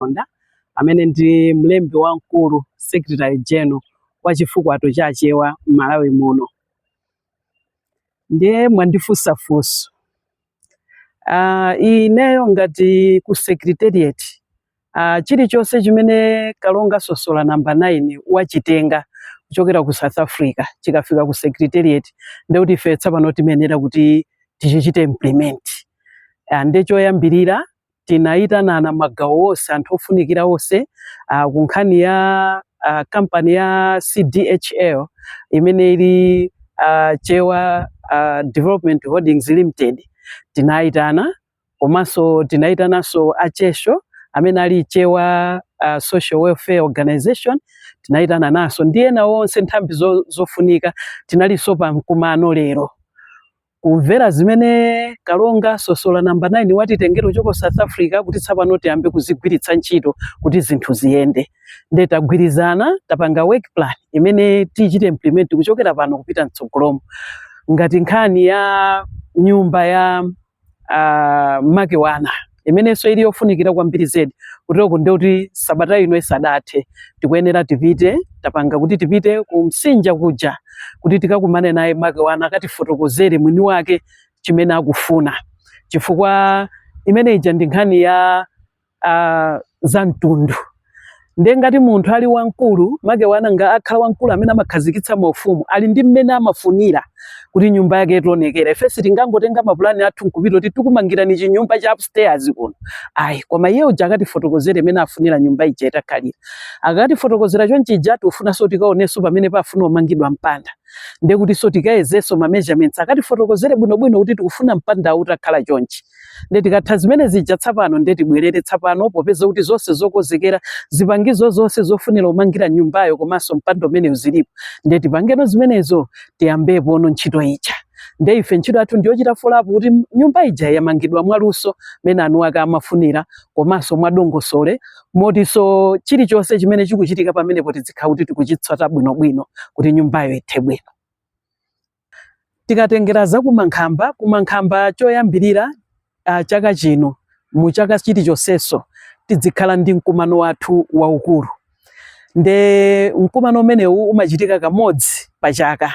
Chaponda amene ndi mlembi wamkulu secretary general wa chifukwato cha Achewa m'Malawi muno. Ndiye mwandifunsa funso Ah, ineyo ngati ku secretariat ah, chilichonse chimene kalonga sosola namba 9 wachitenga kuchokera ku south africa chikafika ku secretariat ndekuti ife tsapano timenera kuti tichichite implement Ah, nde choyambirira tinayitanana magawo onse anthu ofunikira onse uh, ku nkhani ya uh, kampani ya CDHL imene ili uh, Chewa uh, Development Holdings Limited tinayitana komanso tinayitananso a CHESWO amene ali Chewa uh, Social Welfare Organization tinayitananso ndi ena onse nthambi zo, zofunika tinalinso pa mkumano lero kumvera zimene kalonga sosola namba 9 watitengera kuchokera south africa kuti tsapano tiyambe kuzigwiritsa ntchito kuti zinthu ziyende nde tagwirizana tapanga work plan imene tichite implement kuchokera pano kupita mtsogolomo ngati nkhani ya nyumba ya uh, Makewana imenenso ili yofunikira kwambiri zedi kuteroko ndi kuti sabata ino isadathe tikuyenera tipite tapanga kuti tipite ku msinja kuja kuti tikakumane naye Makewana akatifotokozere mwini wake chimene akufuna chifukwa imene ija ndi nkhani ya uh, za mtundu ndiye ngati munthu ali wamkulu Makewana amakhala wamkulu amene amakhazikitsa maufumu ali ndi mmene amafunira kuti nyumba yake itaonekera ife sitingangotenga mapulani athu nkupita kuti tikumangirani chinyumba cha upstairs kuno ayi koma iye uja akatifotokozere mmene afunira nyumba ija itakhalira akatifotokozera chonchija tikufunanso tikaonenso pamene pafuna umangidwa mpanda ndiye kutinso tikayezenso ma measurements akatifotokozere bwinobwino kuti tikufuna mpanda utakhala chonchi nde tikatha zimene zija tsapano nde tibwerere tsapano popeza kuti zonse zokozekera zipangizo zonse zofunira umangira nyumbayo komanso mpanda umenewu zilipo nde tipangeno zimenezo tiyambepono ntchito ija nde ife ntchito yathu ndiyochita folapo kuti nyumba ija yamangidwa mwaluso mmene eni ake amafunira komanso mwadongosole motiso chilichonse chimene chikuchitika pamenepo tidzikhala kuti tikuchitsata bwinobwino kuti nyumbayo ithe bwino Tikatengera za kumankhamba, kumankhamba choyambirira uh, chaka chino mu chaka chilichonseso tidzikhala ndi mkumano wathu waukulu nde mkumano umenewu umachitika kamodzi pa chaka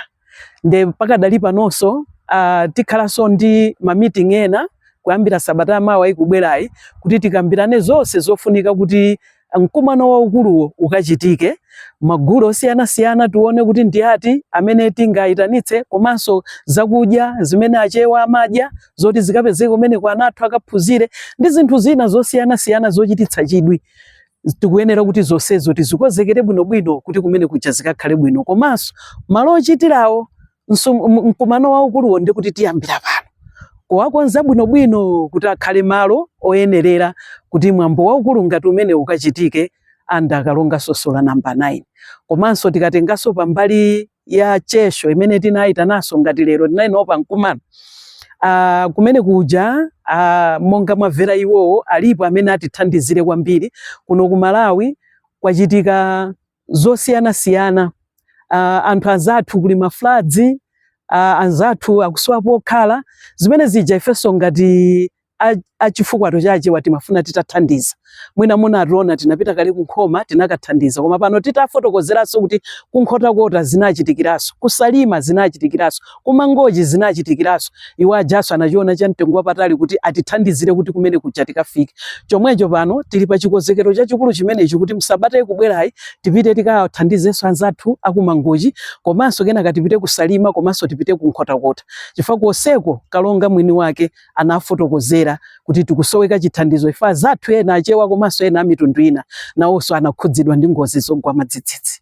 nde pakadali panonso uh, tikhalanso ndi mamiting ena kuyambira sabata ya mawa ikubwerayi kuti tikambirane zonse zofunika kuti mkumano waukuluwo ukachitike magulu osiyanasiyana tione kuti ndi ati amene tingayitanitse komanso zakudya zimene achewa amadya zoti zikapezeke kumeneko ana athu akaphunzire ndi zinthu zina zosiyanasiyana zochititsa chidwi tikuyenera kuti zonsezo tizikonzekere bwinobwino kuti kumene kuja zikakhale bwino komanso malo ochitirawo mkumano waukuluwo ndi kuti tiyambira pano kuwakonza bwinobwino kuti akhale malo oyenerera kuti mwambo waukulu ngati umenewu ukachitike anda akalonga sosola namba 9 komanso tikatenganso pambali ya chesho imene tinayitananso ngati lero tinali nawo pa mkumano Uh, kumene kuja uh, monga mwamvera iwowo alipo amene atithandizire kwambiri kuno ku Malawi kwachitika zosiyanasiyana uh, anthu anzathu kuli mafloods uh, anzathu akusowa pokhala zimene zija ifenso ngati a chifukwato cha achewa timafuna titathandiza mwina munationa tinapita kale ku Nkhoma tinakathandiza koma pano titafotokozeranso kuti ku Nkhotakota zinachitikiranso ku Salima zinachitikiranso ku Mangochi zinachitikiranso iwo ajanso anachiona cha mtengo wapatali kuti atithandizire kuti kumene kuja tikafike chomwecho pano tili pa chikonzekero chachikulu chimenechi kuti msabata ikubwerayi tipite tikathandizenso anzathu a ku Mangochi komanso kenaka tipite ku Salima komanso tipite ku Nkhotakota chifukwa konseko kalonga mwini wake anafotokozera kuti tikusoweka chithandizo chifukwa anzathu ena achewa komanso ena amitundu ina nawonso anakhudzidwa ndi ngozi zogwa mwadzidzidzi